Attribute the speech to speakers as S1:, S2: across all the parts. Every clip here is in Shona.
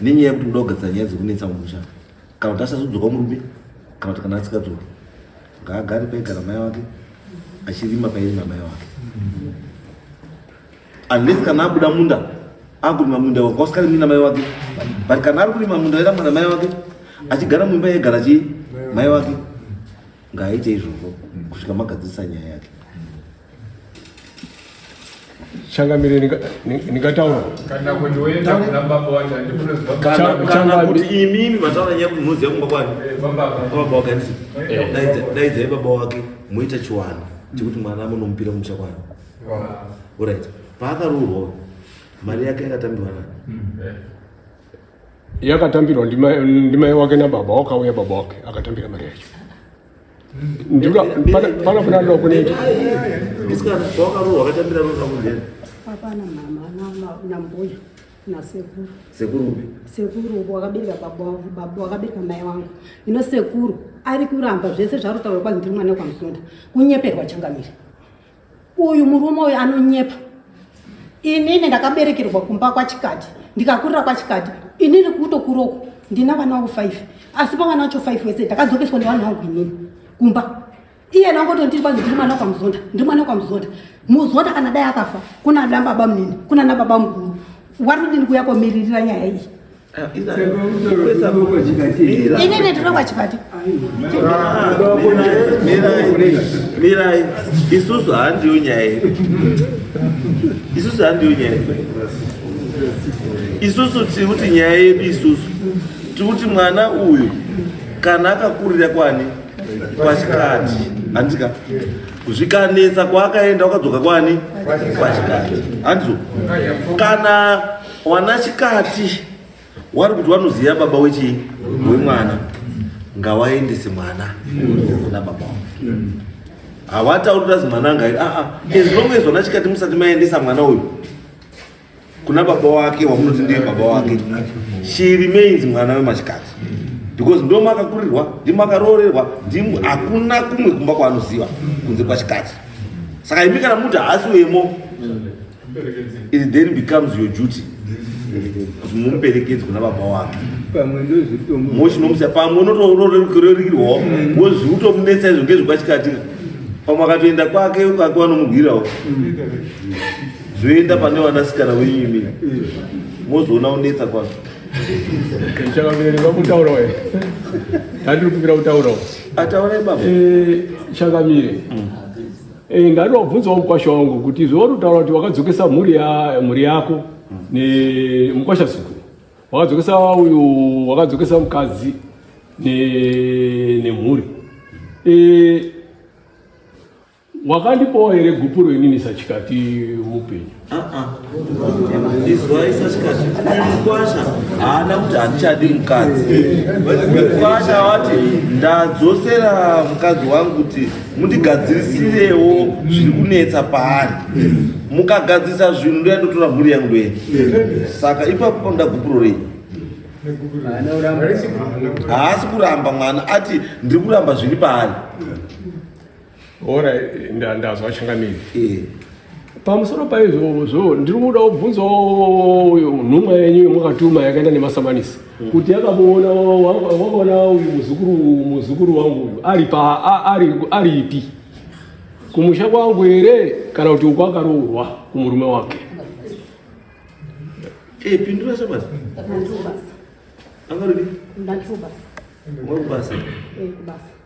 S1: nenyaya yekuti kuda kugadzira nyaya dzekunetsa mumusha kana kuti asazodzoka murume kana kuti kana asikadzoki ngaagare paigara mai wake achirima pairima mai wake unless kana abuda munda akurima munda wake wasikarimi namai wake but kana ari kurima munda airamba namai wake achigara mumba yegara chii mai wake ngaaite izvozvo kusvika magadzirisa nyaya yake
S2: changamire ndingataura kana kuti
S3: imimi vataura nyaya kumunoziva
S1: kumba kwani eh, baba wake andisi eh. daidzai baba wake moita chiwano chekuti mwana munomupira kumusha kwani orit paakaroorwa mari yake yakatambirwa nani hmm. eh.
S2: yakatambirwa ndimai wake nababa wakauya baba wake akatambira mari yacho pana kuna ndo kuneita sekuru sekuru wakabereka
S1: baba wangu baba
S4: wakabereka mai wangu ino sekuru ari kuramba zvese zvaari kutaura kwanzi ndiri mwana wekwamusunda kunyeperwa changamire Uyu murume uyu anonyepa. Inini ndakaberekerwa kumba kwachikati ndikakurira kwachikati inini kutokuroku ndina vana vangu five asi pavana vacho five wese ndakadzokeswa nevanhu vangu inini kumba iye nangoto ndiri kwanzi ndiri mwana kwamuzonda ndiri mwana kwamuzonda muzonda kana dai akafa kuna nababa munini kuna nababa mukuru wari kudini kuya komiririra nyaya iyi Ini ndinokuwa
S1: chipati. Mirai, isusu handiyo nyaya yedu. Isusu handiyo nyaya yedu. Isusu tiri kuti nyaya yedu isusu. Tiri kuti mwana uyu kana akakurira kwani kwachikati handika zvikanetsa kwaakaenda wakadzoka kwani kwachikati handizo kana Wana chikati wari kuti wanoziva baba wechi wemwana ngawaendese mwana kuna baba wake hawatauri kuti azi mwana angairi aa ah, ah. as long as wana chikati musati maendesa mwana uyu kuna baba wake wamunoti ndiye baba wake she remains mwana wemachikati because ndo makakurirwa ndi makaroorerwa ndi hakuna kumwe kumba kwaanoziva kunze kwachikati saka imi kana muti haasi wemo It then becomes your duty kuti mumuperekedze kuna baba wake pamwe ndozvitomu mochinomusa pamwe unotorerukirwawo wozvi utomunetsa izvo ngezvekwachikatira pamwe akatoenda kwake ukake wanomugwirawo zvoenda pane vanasikana wenyu imi mozoona unetsa kwazvo
S2: chakabereka kutaura we hatiri kupira kutaurawo ataura ibaba
S1: Eh, chakamire
S2: Eh, ndari wabvunzawo mukwasha wangu kuti zvauri kutaura kuti wakadzokesa mhuri ya mhuri yako ne mukwasha zukuru wakadzokesa uyu wakadzokesa mukadzi ne nemhuri eh wakandipawo here gupuro inini sachikati mupenyu
S1: izwai sachikati uyu mukwasha haana kuti handichadi mukadzi mukwasha wati ndadzosera mukadzi wangu kuti mundigadzirisirewo zviri kunetsa paari mukagadzirisa zvinhu ndoya ndotora mhuri yangu ndoye saka ipapo panoda gupuro rei haasi kuramba mwana ati ndiri kuramba zviri paari
S2: Ora ndazwa changamire. Eh. Pamusoro paizvozvo ndiri kuda kubvunzawo uyo nhumwa yenyu yomwakatuma yakaenda nemasamanisi hmm. kuti yakamuona wakaona uyu muzukuru muzukuru wangu ari pa ari ari ipi kumusha kwangu here kana kuti uko akaroorwa kumurume wake.
S1: Eh, pindura sabasa. Angarudi? Ndachubasa. Mwakubasa. Eh, kubasa.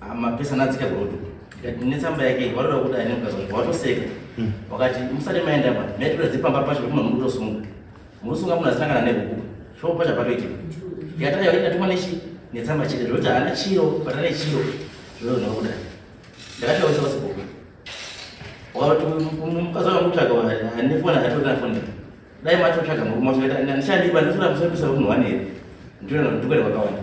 S5: Ah, mapesa anadzika godo ndikati netsamba yake watoda kuda ine mukazonga watoseka hmm. wakati musati maenda pa maitira dzepamba pacho vekuma muri kutosunga murusunga munhu azinangana nehuku shoo pacha patoitika ndikatanga yoti ndatuma nechi netsamba chete zvekuti haana chiro pata nechiro zvoyo nokuda ndakatawisa pasibhuku wakati mukazonga mutsvaga anefoni atotana foni dai matotsvaga murume wacho ndichandiba ndisina musapisa kunhu wanei ndiona kuti ndikwane kwakawanda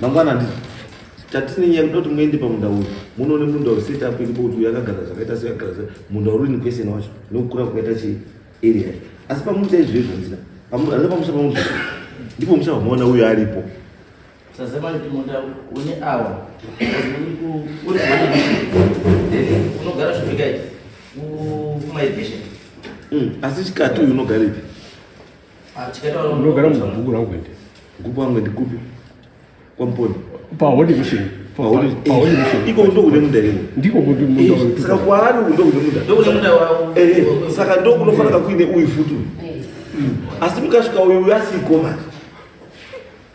S1: Mangwana ndi tatine nyaya kuti muende pamunda uyu munoone munda uyu set up iripo kuti yakagara zvakaita so yakagara so munda uri in question wacho nokukura kwakaita chi area asi pamuti chaizvo izvo ndina pamuti pamusha pamuti ndipo musha wamaona uyu aripo sasema
S5: kuti munda une awa uri unogara zvivikaiti kumairigation
S1: mm, asi chikati uyu unogara ipi
S2: ndogara mubhuku rangu ende mubhuku wangu ende kupi
S1: kwamponi pahode
S2: mission
S1: iko ndokune munda iwo ndiko saka
S2: kwaari uku
S1: ndokune munda saka ndokunofanira kuine uyu futi uyu asi mukasvika uyu uyu asiko manje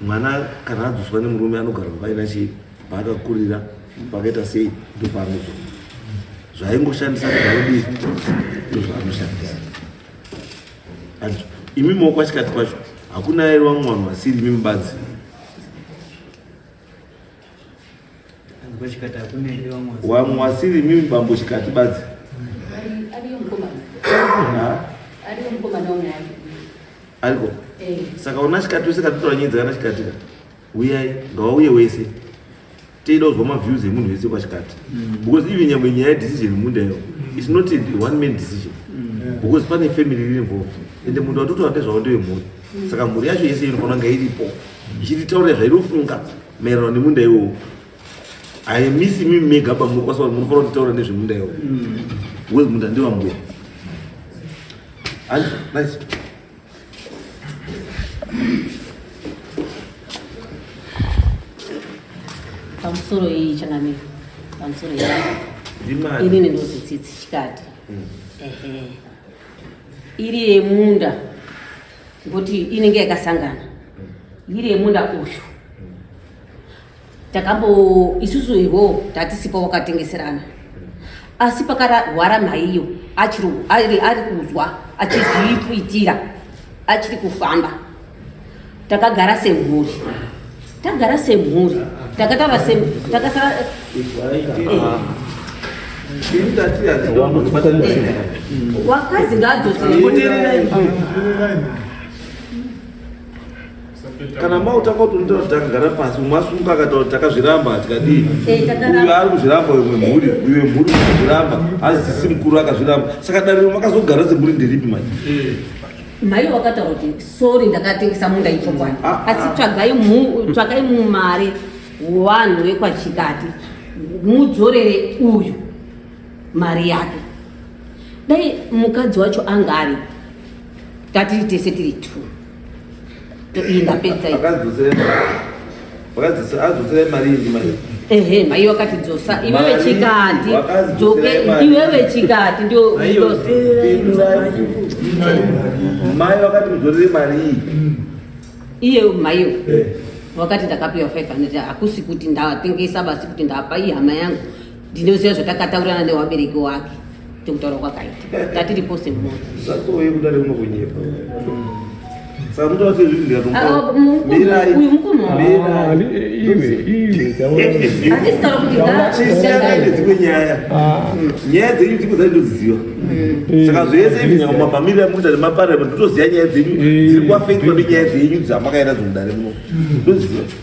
S1: Mwana kana adzoswa nemurume anogara kuva ina chii paakakurira pakaita sei ndopaanozo zvaingoshandisa kudhaudii ndozvaanoshandisa imi mokwachikati kwacho hakuna airwa mwana wasiri imi mubanzi wamwasiri mimi bambo chikati badzi ariko eh. saka una chikati wese katotora nyedzi kana chikatika uyai ngawauye wese teida kuzwa maviews emunhu wese kwachikati mm. because even nyangwe nyaya yedecision munda iyo mm. its not one man decision mm. because pane family riri involved ende munhu watotora ndezvavo ndewemhuri saka mhuri yacho yese inofanira kunge iripo ichititaurira zvainofunga Maererano nemunda iwowo haimisi mimi mega pamuri kwasa vanhu munofanira kutaura nezvemunda iwowo mm. we munda ndewambuya nice
S6: pamusoro iyi changamiro pamusoro iyi inini ndozotsitsi chikati mm. ehe iri yemunda ngoti inenge yakasangana yiri yemunda uyu takambo isusu ivo tatisipo wakatengeserana asi pakarwara mhaiyo ari kuzwa achizviitira achiri kufamba takagara semhuri Tagara semhuri. Takatara semhuri. Takasara wakazi
S1: kana mautanga kuti unoita kuti takagara pasi umwe asunga akaita kuti takazviramba tikadii eh, uyo ari kuzviramba uyo mwemhuri uyo wemhuri akazviramba azisisi mukuru akazviramba saka dariro makazogara semhuri ndiripi manje eh. Mai
S6: wakataura kuti sorry ndakatengesa munda ichokwadi ah, ah. asi tsvagai tsvagai mumari wanhu wekwachikati mudzorere uyu mari yake dai mukadzi wacho anga ari tati tese tiri two
S1: Ehe, mai wakati
S6: dzosa iwe vechikati dzoke iwe vechikati ndio
S1: mai wakati mudzorere mari iyi
S6: iye maiyo eh. wakati ndakapiwa 500 hakusi kuti ndatengesa basi kuti ndapa ihama yangu ndinoziva zvatakataurirana newabereki wake
S1: tokutaura kwakaita tatiripo semunhu zvatove
S6: kudare unokunyepa dzimwe
S1: nyaya nyaya dzenyu dziko dzai ndodziziva saka zvese izvi nyamamamiri amukuita nemaparliament ndotoziva nyaya dzenyu dziri kwafekwa nenyaya dzenyu dzamakaenda dzomudare muno ndoziva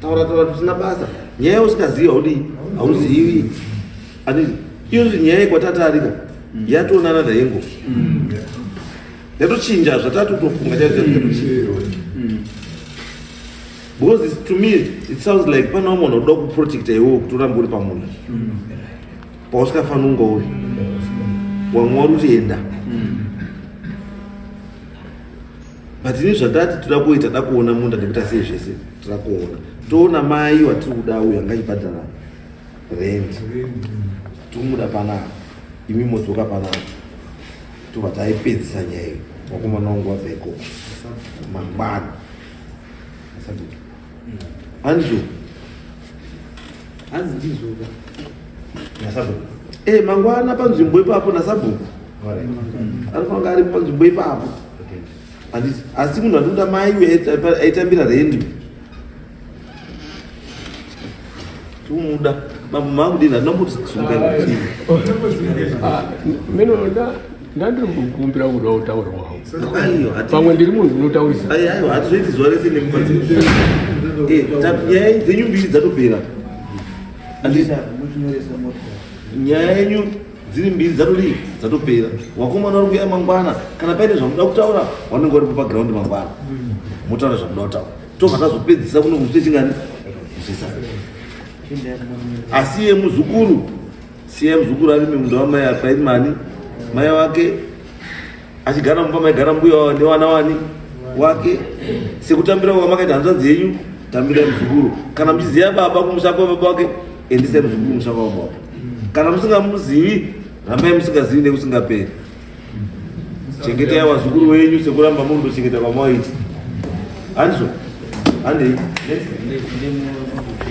S1: taura taura tusina basa nyaya usikazivi haudii hauzivi ati iyozvi nyaya yekwatatarika mm. yatoonana dayengo mm. yatochinja zvatatotofunga chaizvatochiva mm. because it's, to me it sounds like panawo munhu oda kuprotecta iwewo kuti urambe uri pamunda pausikafanunga uri wamwari utienda but ini zvatati toda kuita da kuona munda nekuti asei zvese toda kuona toona mai watiri kuda uyo anga achibhadhara rent tomuda panapa imi modzoka panapa tobva taipedzisa nyaya iyo vakomana wangu wabva ikoko mangwana Hanzi
S7: hanzi ndizoka nasabhuku e
S1: eh, mangwana panzvimbo ipapo nasabhuku anofanira ari panzvimbo ipapo handiti asi munhu anoda mai uye aitambira rendi Tumuda mambo makudini atinambotisungaira chii? Ah,
S2: mino nda ndandiri kukumbira kuda kutaura wangu. Aiwa, hati- Pamwe ndiri munhu unotaurisa. Ai, aiwa, hatizoiti zuva
S1: rese nemba dzedu. Eh, ta- nyaya yenyu- dzenyu mbiri dzatopera Andi- nyaya yenyu dziri mbiri dzatodii dzatopera wakomana uri kuya mangwana kana paine zvamuda kutaura wanenge uripo paground mangwana motaura zvamuda kutaura tobva tazopedzisa kuno kusi chingani kusisa asi ye muzukuru siya muzukuru ari mimunda wamai apairi mani mai wake achigara mumba maigara mbuya wavo nevana wani wake sekutambira kwamakaita hanzvadzi yenyu tambirai muzukuru kana muchiziva baba kumusha kwababa wake endisai muzukuru musha kwababa wake kana musingamuzivi rambai musingazivi nekusingaperi chengetai vazukuru wenyu sekuramba muri kuchengeta kwamwaiti handizvo handei